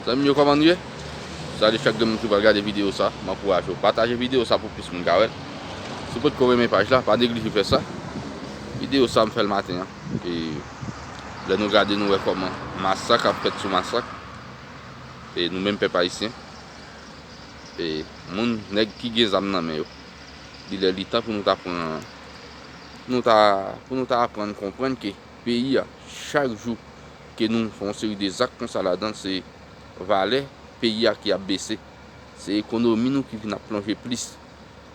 Zanmim yo kòman nou ye? Sa li fè gen moun ki pral gade video sa, m ankouraje w pataje video sa pou plis moun ka wèl. Si w potko renmen paj la, pa neglije fè sa. Video sa m fèl maten an e lè nou gade nou wè kòman masak ap fèt sou masak e nou menm pèp ayisyen e moun nèg ki gen zam nan men yo. Li lè li tan pou nou ta pran pou nou ta pou nou ta aprann konprann ke. peyi a chak jou ke nou fè yon seri de zak konsa ladan l se valè peyi a ki ap bese se ekonomi nou ki vin ap plonje plis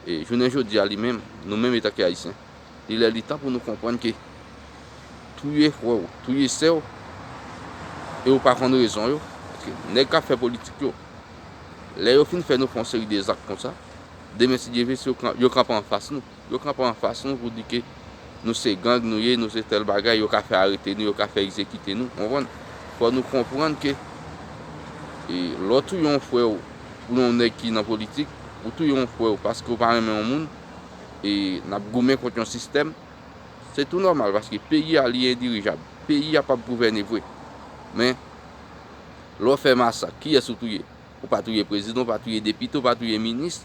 e jounen jodi a li menm nou menm etanke ayisyen li lè li tan pou nou konprann ke touye frè w touye sè w e ou pa konn rezon yo paske nèg k ap fè politik yo lè yo fin fè nou fè yon seri de zak konsa demen si Dye ve yo kanpe anfas nou. Yo kanpe anfas nou pou di ke nou se gang nou ye, nou se tèl bagay, yo ka fè arete nou, yo ka fè egzekite nou, konprann? Fò nou konprann ke lè w touye yon frè w pou yon nèg ki nan politik, ou touye yon frè w paske ou pa renmen yon moun, e n ap goumen kont yon sistèm, se tou nòmal paske peyi a li endirijab, peyi a p ap gouvène vre. Men, lè w fè masak, kiyès ou touye? Ou pa touye prezidan, ou pa touye depite, ou pa touye minis,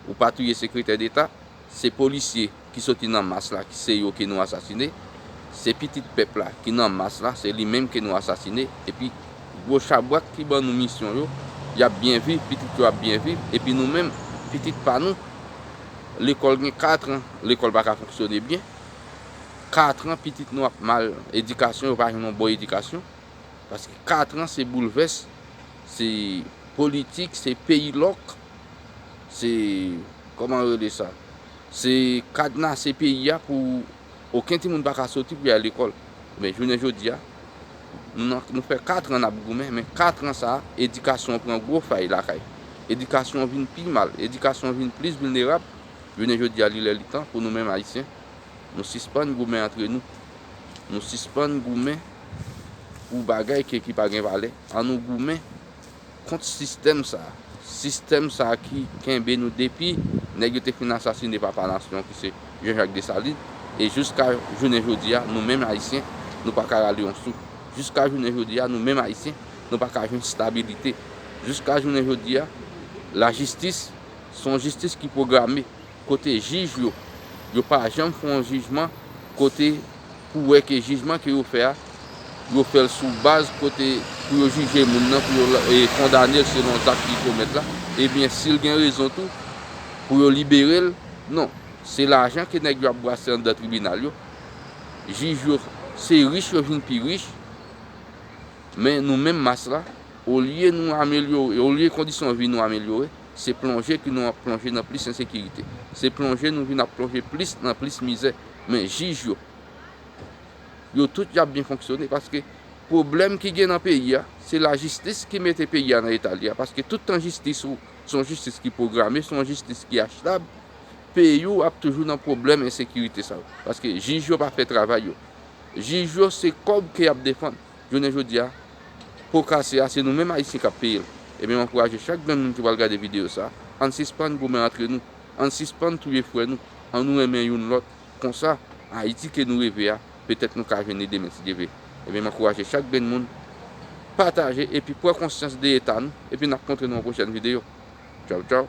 ou pa touye sekretè deta. Se polisye ki soti nan mas la ki se yo ke nou asasine. Se pitit pèp la ki nan mas la, se li menm ke nou asasine. Epi gwo chabrak ki ban nou misyon yo, y ap byen viv, pitit yo ap byen viv. Epi nou menm, pitit pa nou, lekòl gen katran, lekòl pa ka fonksyone byen. Katran pitit nou ap mal edikasyon, yo pa jwenn yon bon edikasyon. Paske katran se boulvès, se politik, se peyi lòk, se kòman yo rele sa, se kadnase peyi a pou oken timoun pa ka soti pou y al lekòl. Men jounen jodi a, nou fè katran n ap goumen, men katran sa a, edikasyon pran gwo fay lakay. Edikasyon vin pi mal, edikasyon vin plis vilnerab. Jounen jodi a li lè li tan pou nou menm Ayisyen Nou sispann goumen antre nou. Nou sispann goumen pou bagay ke ki pa gen valè. An nou goumen kont sistèm sa. Sistèm sa ki kenbe nou depi nèg yo te fin asasine papa nasyon ki se Jean Jacques Dessalines e jouska jounen jodi a nou menm Ayisyen nou pa ka rale yon souf. Jouska jounen jodi a nou menm Ayisyen nou pa ka jwenn stabilite. Jouska jounen jodi a lajistis son jistis ki pwograme. Kote jij yo? Yo pa janm fè yon jijman kote pou wè ke jijman ke yo fè a, yo fè l sou baz kote pou yo jije moun nan, pou yo kondane l selon zak li komèt la. Ebyen, si l gen rezon tou, pou yo libere l. Non. Se lajan ke nèg yo ap brase anndan tribinal yo. Jij yo, se rich yo vin pi rich. Men nou menm mas la, olye nou amelyore, olye kondisyon vi nou amelyore, Se plonje ke nou ap plonje nan plis ensekirite. Se plonje nou vin ap plonje plis nan plis mizè. Men jij yo, yo tout y ap byen fonksyone paske pwoblèm ki gen nan peyi a, se lajistis ki mete peyi a nan eta li a paske tout tan jistis ou se yon jistis ki pwograme, se yon jistis ki achtab, peyi ou ap toujou nan pwoblèm ensekirite sa yo. Paske jij yo pa fè travay yo. Jij yo se kòb ke y ap defann. Jounen jodi a, po kase a se nou menm Ayisyen k ap peye l. Ebyen m ankouraje chak grenn moun ki pral gade videyo sa, ann sispann goumen antre nou, ann sispann touye frè nou, an nou renmen youn lòt, konsa, Ayiti ke nou reve a, petèt nou ka jwenn li demen si Dye vle. Ebyen m ankouraje chak grenn moun pataje epi pran konsyans de eta nou, epi n ap kontre nou yon pwochèn videyo. Tchaw tchaw!